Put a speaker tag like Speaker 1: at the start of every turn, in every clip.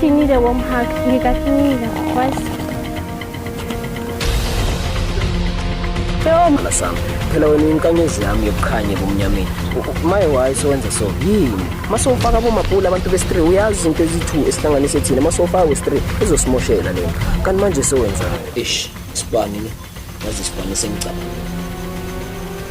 Speaker 1: He need a warm
Speaker 2: hug. He got me twice. Phela sami. Phela wena inkanyezi yami yokukhanya kumnyameni. My why so wenza so? Yini? Masofaka bomabhula abantu be-3 uyazi izinto ezi-2 esihlanganise thina masofaka we-3 izosimoshela lento. Kanti manje sewenzani? Ish, sibani ne? Yazi sibane sengicabangile.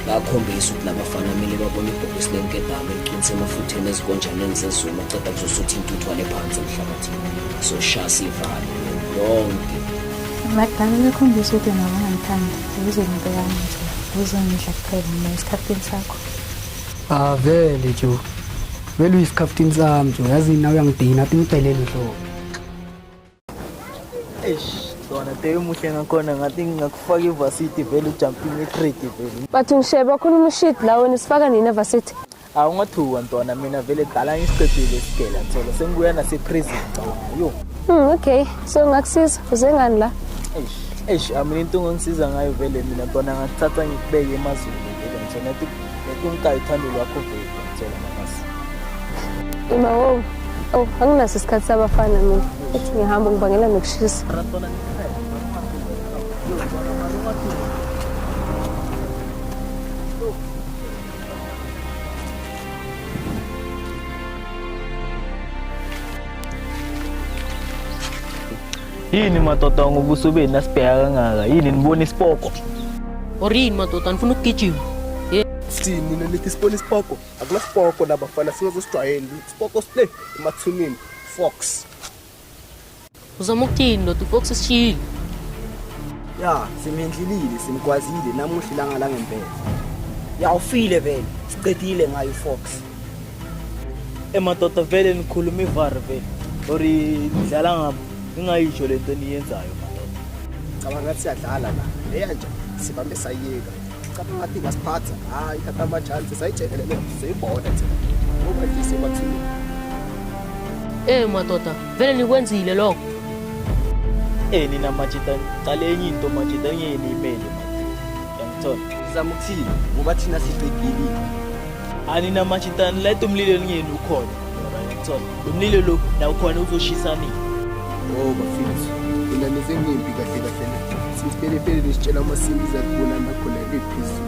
Speaker 2: Bakhombisa ukuthi labafana kumele babone ibhokisi lenkebhame liqinise emafutheni ezikonjaneni zezulu aceda kuzosutha intuthu wale phansi emhlabathini. So shasi ivalo yonke. Abadala
Speaker 3: bekhombisa ukuthi nabo ngangithanda ukuze ngibeka nje uzongidla kuphela mina esikhathini sakho. Ah
Speaker 4: vele jo. Vele uyisikhathini sami jo. Yazi nawe uyangidina, athi ngibhelele nhlobo.
Speaker 5: Eish, dona te umuhle ngakhona ngathi ngingakufaka ivarsity vele ujumping etrade vele. But ngisheba khona
Speaker 1: umushit la wena sifaka nina varsity. Awungathuka
Speaker 5: ntwana mina vele dala ngisiqedile isigela thola sengibuya nase prison ngicabanga. Yo. Hmm, okay.
Speaker 1: So ngakusiza uze ngani la? Eish, eish amina
Speaker 5: into ongangisiza ngayo vele mina ntwana ngakuthatha ngikubeke emazweni vele ngithola ukuthi ngikungayithandi lwakho vele.
Speaker 1: Uma wo, oh, anginaso isikhathi sabafana mina. Ethi ngihamba ngibangela nokushisa.
Speaker 5: Yini madoda ngobuso benu nasibheka kangaka? Yini nibona isipoko? Or yini
Speaker 6: madoda nifuna ukugijima? Sithini
Speaker 7: nina nithi sibona isipoko? Akunasipoko la bafana singazosijwayeli. Isipoko sile emathuneni. Fox.
Speaker 6: Uzama ukuthini ndoda ufox sishiyile.
Speaker 7: Ya, simendlilile, simgwazile namuhla ilanga langempela. Ya ufile vele. Siqedile ngayo Fox. emadoda
Speaker 5: vele nikhuluma ivare vele or nidlala ngabo ningayisho le nto eniyenzayo madoda cabanga ngathi
Speaker 7: siyadlala la leya nje sibambe sayiyeka cabanga ngathi ngasiphatha hayi thatha amajansi sayijekelele seyibona thina ngoba nje sibathini Eh
Speaker 6: madoda vele nikwenzile lokho
Speaker 5: eh nina majita cala enye into majita enye yenimele majita yangithola sizama ukuthini
Speaker 7: ngoba thina siqedile
Speaker 5: aninamatha intana layita umlilo elingeni ukhona thola lo mlilo lo nawo khona uzoshisa nini oh
Speaker 7: bafethu mina nisemimbi kahle kahle na sisipelefele nisitshela uma simbiza kubona nakhona ephezulu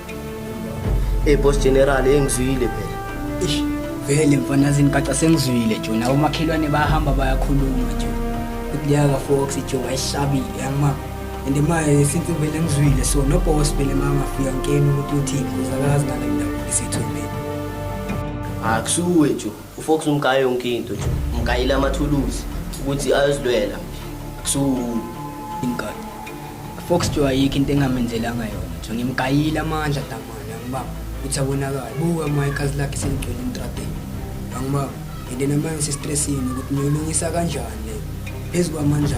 Speaker 2: Hey boss general engizwile phela. Eish vele mfana
Speaker 4: zingaca sengizwile nje nawo makhelwane bahamba bayakhuluma nje. Ukuyaka Fox nje wayishabile yama. And manje since vele ngizwile so no boss vele mangafika ngikeni ukuthi uthi uzakazi ngale ndawo isithumbe. Akusuwe
Speaker 2: nje ufox umgayo yonke into nje umgayile amathuluzi ukuthi ayozilwela kusuku inkathi
Speaker 4: fox nje ayikho into engamenzelanga yona nje ngimgayile amandla damane angibanga ukuthi abonakala buka uma ikazi lakhe seligcwele intradeni angibanga and then amanye sistressini ukuthi ngiyolungisa kanjani le phezu kwamandla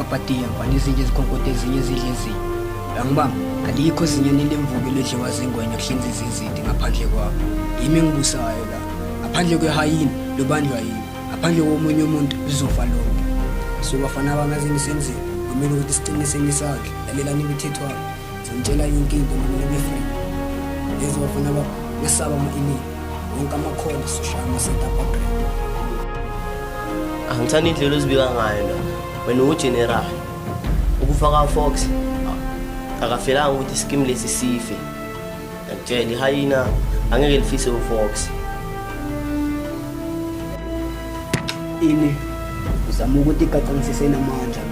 Speaker 4: apatiya ngwane ezinye ezikhonkotha ezinye ezidla ezinye angibamba alikho ezinyeni lemvubu elidliwa zingwenya kuhlinza izizidi ngaphandle kwabo yimi engibusayo la ngaphandle kwehayini lobanjwa yimi ngaphandle komunye umuntu lizofa lonke so bafana bami azingisenzile kumele ukuthi siqinise ngisandla lalelani imithetho wabo Ngitshela yonke into mina ngibe-free. Ngezwa bafana baba ngesaba ama-email. Wonke amakhola soshaya ama-setup agree.
Speaker 2: Angithanda indlela ozibika ngayo la. Wena uwugeneral. Ukufa kaFox ah, akafelanga ukuthi isikimu lesi sife. Ngiyakutshela ihayina angeke lifise uFox.
Speaker 4: Ini uzama ukuthi igacangisise namandla.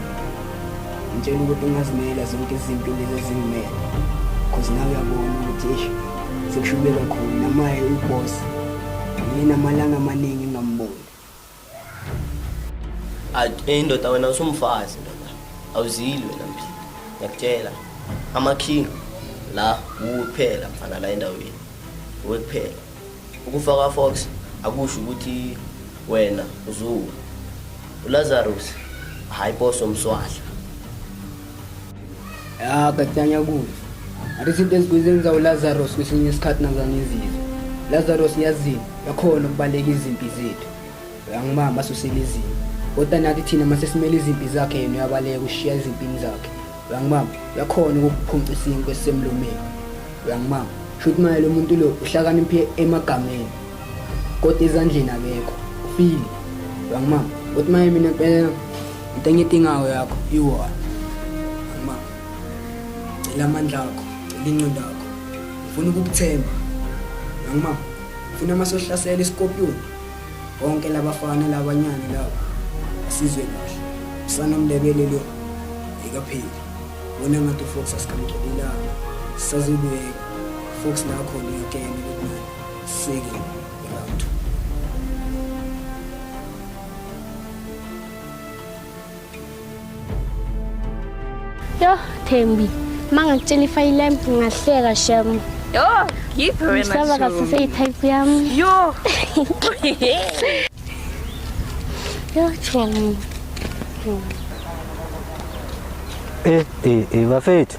Speaker 4: Ngitshela ukuthi ungazimela zonke izinto lezi ezingimele cause nawe uyabona ukuthi ish sekushube kakhulu namaye uboss yena amalanga amaningi ngamboni
Speaker 2: eh, indoda wena usumfazi ndoda awuzili wena mphila ngiyakutshela amakhinga la kuphela mfana la endaweni wekuphela Ukufa kaFox akusho ukuthi wena uzuwa. ULazarus hayi boso mswahla.
Speaker 4: Ya katyanya kuthi. Athi izinto ezikuzenza uLazarus kwesinye isikhathi nazanizizwe. Lazarus yazini yakhona ukubaleka izimpi zethu. uyangibamba asusele izimpi kodwa nathi thina uma sesimele izimpi zakhe yena uyabaleka ushiya ezimpini zakhe uyangibamba uyakhona ukukuphonca isinkwe esisemlomeni uyangibamba sho ukuthi manje lo muntu lo uhlakaniphe emagameni kodwa ezandleni akekho ufile uyangibamba ukuthi manje mina mpela into engidingayo yakho iwona ma cela amandla akho cela inqondo yakho ngifuna ukukuthemba uyangibamba ngifuna uma sohlasela isikopiyoni Bonke labafana labanyane labo asizwe kahle. Usana Mndebele lo ikapheli. Wona ngathi Fox asikamgcobila. Sazobuye Fox nakho ngiyakena lokuna. Sike round 2.
Speaker 1: Yo, Thembi, mangakutshela ifayili lami ngahleka shem. Yo, ngiphe
Speaker 8: wena. Ngisaba kasise i-type yami. Yo.
Speaker 1: Yo, Thembi.
Speaker 9: Eh, eh, eh, bafethu.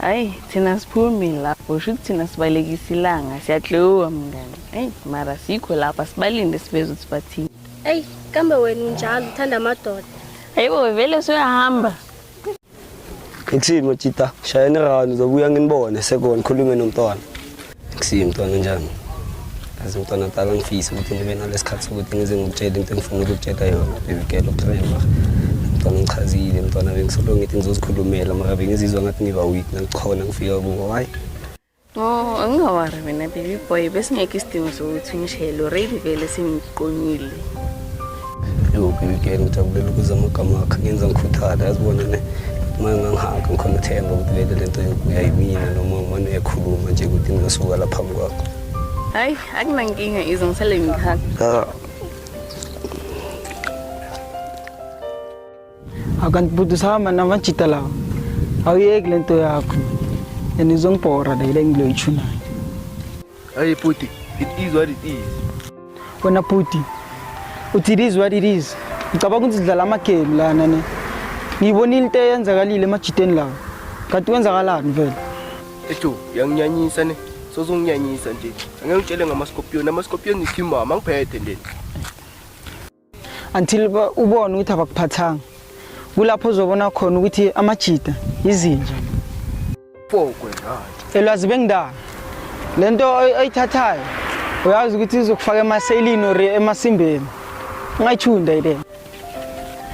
Speaker 2: Hayi
Speaker 8: thina siphumi lapho sho ukuthi thina sibalekisa ilanga siyadliwa mngani eyi mara sikho lapha sibalinde siveze ukuthi bathini eyi kambe
Speaker 1: wena unjalo uthanda amadoda hayibo vele
Speaker 8: soyahamba
Speaker 9: Ngithini Majita shayeni rani uzobuya nginibone sekona khulume nomntwana Kusile mntwana njani? Azi mntwana tala ngifisa ukuthi ngibe nalesikhathi sokuthi ngize ngikutshele into engifuna ukukutshela yona baby girl utreva mntwana ngichazile mntwana bengisolo ngithi ngizozikhulumela mara bengizizwa ngathi ngiba weak nangikhona ngifika kubo hayi Oh,
Speaker 8: angingawari mina baby boy besingekho isidingo sokuthi ungishele already vele sengiqonyile.
Speaker 9: Ngiyokuyikela ngijabulela ukuza amagama akhe ngenza ngikhuthale yazibona ne uma ngangihaka ngikhona ithemba ukuthi vele le nto yokuya yimina noma umane uyakhuluma nje ukuthi ngingasuka la phambi kwakho hayi
Speaker 8: akunankinga izo ngisale ngihaka
Speaker 10: akanti bhuti usahamba namajita lawa awuyeki le nto yakho and izongibhora le yile ngiloyitshunayo
Speaker 7: ayi bhuti it is what it is wena
Speaker 10: bhuti uthi it is what it is ngicabanga ukuthi sidlala amagame lana ne ngiyibonile into eyenzakalile emajiteni lawa kanti kwenzakalani vele ejo
Speaker 7: yanginyanyisa ne sozonginyanyisa nje angeke ngitshele ngamaskopiyoni amaskopiyoni ngithi mama ngiphethe nje
Speaker 10: until ubone ukuthi abakuphathanga kulapho uzobona khona ukuthi amajita yizinja
Speaker 7: fokwe ngathi elwazi bengidala
Speaker 10: lento oyithathayo uyazi ukuthi izokufaka emaselini or emasimbeni ungayithunda ile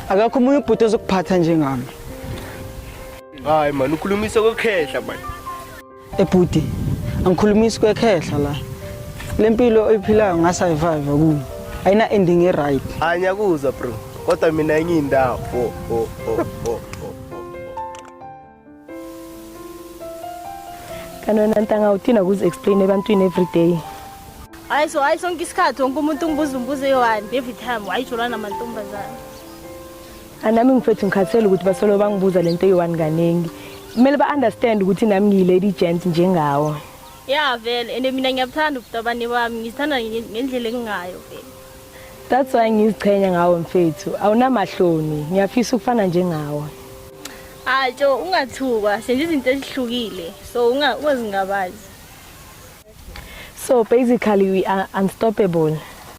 Speaker 10: akakho umunye ubhuti ozokuphatha njengami
Speaker 7: hayi mani ukhulumisa kokhehla mani ebhuti
Speaker 10: angikhulumisi kwekhehla la le mpilo oyiphilayo ngasayivive kuyo ayina-ending e-right anyakuzwa bro
Speaker 7: kodwa mina enye indawo oh, oh, oh, oh, oh.
Speaker 1: kanti wena ntanga uthina kuzi-explain ebantwini every day hayi so
Speaker 11: hayi sonke isikhathi wonke umuntu ungibuza umbuzo eyi-one every time wayijolana mantombazane
Speaker 1: anami ngifethu ngikhathele ukuthi basolo bangibuza lento eyi-one kaningi kumele ba-understand ukuthi nami ngiyi-lady gent njengawo ya vele
Speaker 11: and mina ngiyabuthanda ubutabane bami ngizithanda nge- ngendlela engingayo vele that's why
Speaker 1: ngiziqhenya ngawo mfethu awunamahloni ngiyafisa ukufana njengawo
Speaker 11: hayi tsho ungathukwa senza izinto ezihlukile so unga- ungazingabazi
Speaker 1: so basically we are unstoppable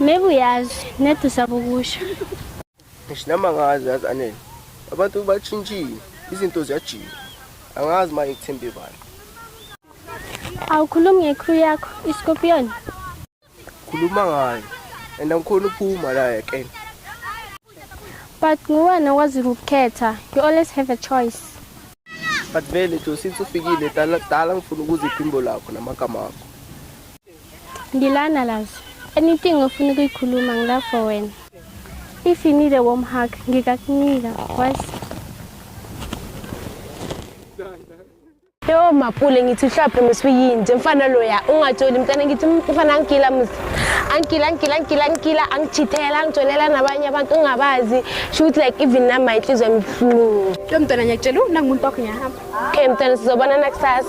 Speaker 7: Maybe
Speaker 11: uyazi, nedi usaba ukusho. Ngisho
Speaker 7: nami angazi yazi anele. Abantu bashintshile, izinto ziyajika. Angazi manje ngithembe bani. Awukhulumi
Speaker 11: ngecrew yakho, iScorpion.
Speaker 7: Khuluma ngayo. And angikhona ukuphuma la yekena.
Speaker 11: But nguwena okwazi ukukhetha. You always have a choice. But
Speaker 7: vele nje since ufikile dala dala ngifuna ukuza iphimbo lakho namagama akho. Ngilana
Speaker 11: lazo. Anything ofuna ukuyikhuluma ngila for wena. If you need a warm hug, ngikakunika. Was
Speaker 6: Yo mapule ngithi uhlaphe mswe yinje mfana loya ungatsholi mntana ngithi mfana angigila msi angigila angigila angigila angigila angichithela angitholela nabanye abantu ungabazi shoot like even na my inhliziyo emhlungu Lo mntwana ngiyakutshela nangumuntu wakho ngiyahamba. okay mntana sizobonana kusasa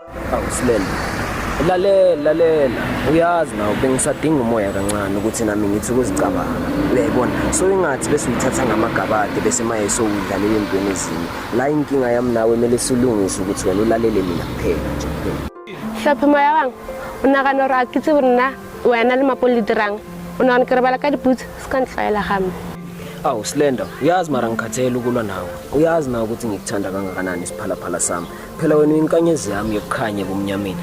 Speaker 2: awusilele lalela lalela uyazi nawo bengisadinga umoya kancane ukuthi nami ngithi ukuzicabanga uyayibona so ingathi bese uyithatha ngamagabade bese maye sowudlalela entweni ezinye la inkinga yami nawe kumele silungise ukuthi wena ulalele mina kuphela nje hlophe
Speaker 6: moya wang o nagana gore a ke tsebo nna wena le mapo le dirang o nagana ke rebala ka diputse se ka ntlwaela game awu slender
Speaker 2: uyazi mara ngikhathele ukulwa nawe uyazi nawe ukuthi ngikuthanda kangakanani isiphalaphala sami phela wena uyinkanyezi yami yokukhanya ebumnyameni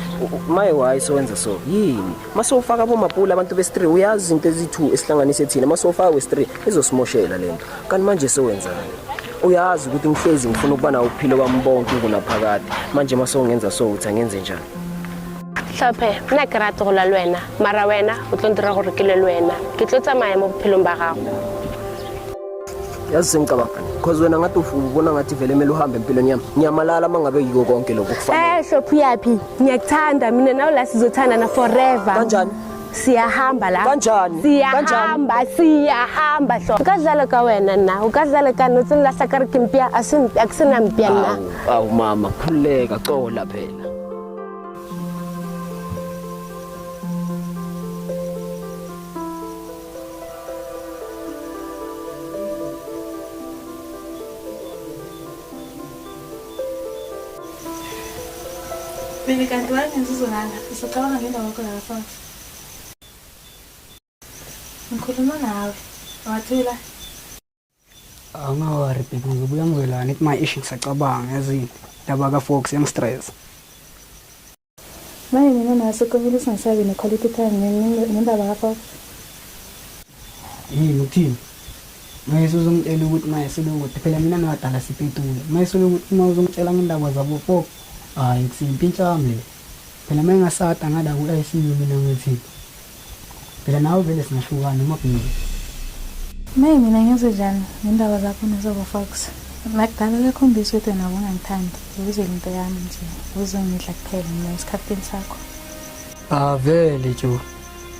Speaker 2: maye wayi sowenza so yini masowufaka abomapula abantu besi-three uyazi izinto ezi-two esihlanganise thina masowufaka wesi-three izosimoshela le nto kanti manje sowenzani uyazi ukuthi ngihlezi ngifuna ukuba nawo uphilo kwami bonke ngunaphakade manje masowungenza so uthi angenze njani tlhophe
Speaker 6: nna ke rate go lwa le wena mara wena o tlo ntira gore ke lwe le wena ke tlo tsamaya mo bophelong ba gago
Speaker 2: yazi sengicabanga because wena ngathi ubona ngathi vele kumele uhambe empilweni yami ngiyamalala uma ngabe yiko konke lokhu kufanele eh shophu yaphi
Speaker 6: ngiyakuthanda mina nawe la sizothandana forever kanjani
Speaker 2: siyahamba la
Speaker 6: kanjani siyahamba
Speaker 2: siyahamba
Speaker 6: hlo ukadlala ka wena na ukadlala ka no tsini lasa ka re ke mpia a ke sena mpia na aw mama
Speaker 2: khuleka cola phela
Speaker 3: Bebe kanti wayengenzizolala usacabanga ngemva kwakho lala phansi ngikhuluma nawe wathula
Speaker 4: awungawari bheki ngizobuya ngizolana ithi my ish ngisacabanga yazini ndaba kafox yangistress
Speaker 3: Manje mina nase kumele singasabi ne-quality time nge- nge- ngendaba kaFox.
Speaker 4: yini ukuthini maye suzongitshela ukuthi maye sube ukuthi phela mina nabadala sipetule maye sube ukuthi uma uzongitshela ngendaba zabo fox hhayi kusiyimpi intshami le Phela uma engasada ngala ku-ICU mina ngithi phela nawe vele singahlukana noma kuningi. May
Speaker 3: mina ngiyoze njani ngendaba zakho nezobo Fox. Nakudala uyakhombisa ukuthi wena ubungangithandi uzele into yami nje uzongidla kuphela mina isikhaftini sakho. Avele
Speaker 4: jo.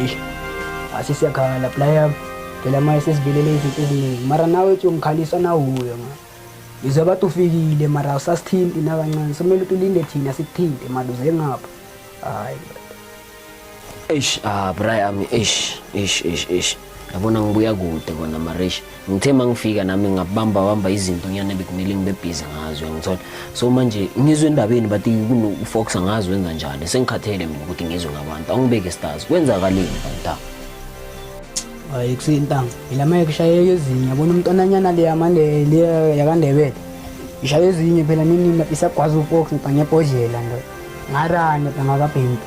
Speaker 4: Eish. Asi siyakhala playa. Phela manje sesivelele izinto eziningi. Mara nawe uthi umkhalisa nawuyo manje. Ngizwe bathi ufikile mara usasithinti nakancane. Somele ukuthi ulinde thina sikuthinte maduze ngapha. Hayi. Eish, ah
Speaker 2: Brian, eish, eish, eish, eish. Yabona ngibuya kude kona mara eish. ngithe uma ngifika nami ngabamba bamba izinto ngiyane bekumele ngibe busy ngazo ngithola so manje ngizwe endabeni bathi kunokufox ngazo wenza njani sengikhathele mina ukuthi ngizwe ngabantu awungibeke stars kwenzakaleni kanti hayi
Speaker 4: kusintanga ilama ekushayeka ezinye yabona umntwananyana le yamande le yakandebele ishaye ezinye phela nini isagwaza ufox ngibhanye ebhodlela ndo ngarane bangakabhembi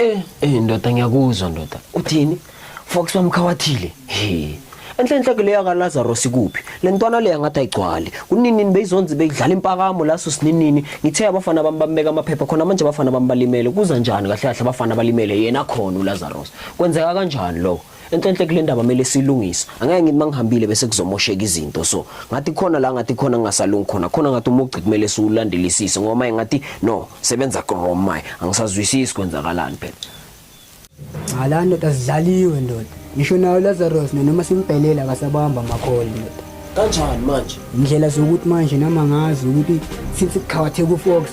Speaker 4: Eh,
Speaker 2: eh ndoda ngiyakuzwa ndoda. Uthini? Fox wamkhawathile. He. Enhle enhle ke leya kaLazaro sikuphi? Lentwana leya ngathi ayigcwali. Kunini beyizonzi beyidlala impakamo laso sininini. Ngithe abafana bami bambeka amaphepha khona manje abafana bami balimele. Kuza njani kahle kahle abafana balimele yena khona uLazarus. Kwenzeka kanjani lokho? enhlenhle kule ndaba mele silungise angeke ngithi mangihambile bese kuzomosheka izinto so ngathi khona la ngathi khona ngingasalungi khona khona ngathi umugci kumele siwulandelisise ngoba maye ngathi no sebenza wrong maye angisazwisisi kwenzakalani phela cha
Speaker 4: la ndoda sidlaliwe ndoda ngisho nayo Lazarus noma simbhelela akasabamba amakholi ndoda kanjani manje
Speaker 2: indlela zokuthi manje
Speaker 4: nama ngazi ukuthi since kuqhawatheka uFox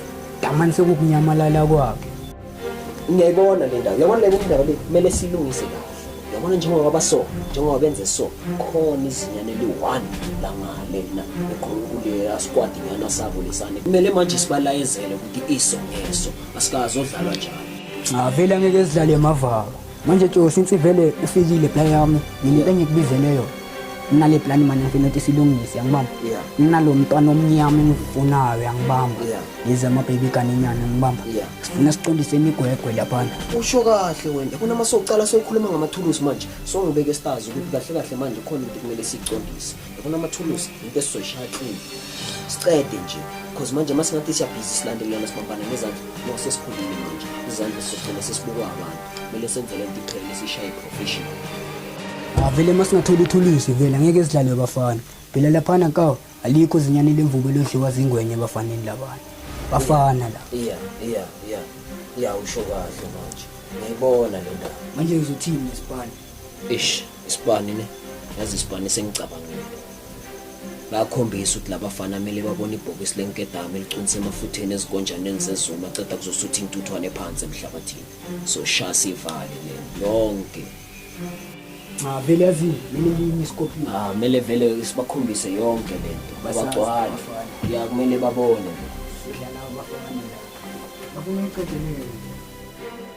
Speaker 4: damani sekukunyamalala kwakhe ngiyayibona
Speaker 2: le ndawo yabona le ndawo le kumele silungise kahle yabona njengoba baba so njengoba benze so khona izinyane eliyi-one langale na eqhulukuleyo asikwadi nyana sabo lesane kumele manje sibalayezele ukuthi iso ngeso asikazodlalwa njalo ngavele angeke sidlale
Speaker 4: emavalo manje tjo since vele ufikile bla yami mina into engikubizele yona nginale plan manje ngifuna ukuthi silungise angibamba nginalo mntwana omnyama engifunayo yangibamba yize ama-baby kanenyana ngibamba sifuna siqondise imigwegwe laphana usho kahle
Speaker 2: wena kunama socala sokhuluma ngamathulusi manje songibeke stazi ukuthi kahle kahle manje khona into kumele siyiqondise Ngifuna amathulusi into esizoyishaya clean. Siqede nje because manje uma singathi siyabhizi silandelelana sibambana nezandla ngoba sesikhulile manje izandla sizogcina sesibukwa abantu kumele senze le nto iqhelile siyishaye professional
Speaker 4: avele uma singathola ithulusi vele angeke sidlalwe bafana phela laphana kawo alikho zinyane lemvubu elodliwa zingwenye ebafaneni labana bafana la iya iya iya iya
Speaker 2: usho kahle manje ngiyibona le ndaba manje ngizothini
Speaker 4: nesibani Eish,
Speaker 2: isibani ne. Yazi isibani sengicabangile. Bayakhombisa ukuthi labafana kumele babone ibhokisi lenkedama eliqinisa emafutheni ezikonjaneni zezulu maceda kuzosutha intuthwane phansi emhlabathini. So shasa ivale le yonke.
Speaker 4: Cha vele yazi mina ngiyini iskopi. Ah, kumele vele
Speaker 2: sibakhombise yonke lento. Abagcwali. Ya kumele babone. Sidlala
Speaker 4: abafana. Babona iqedele.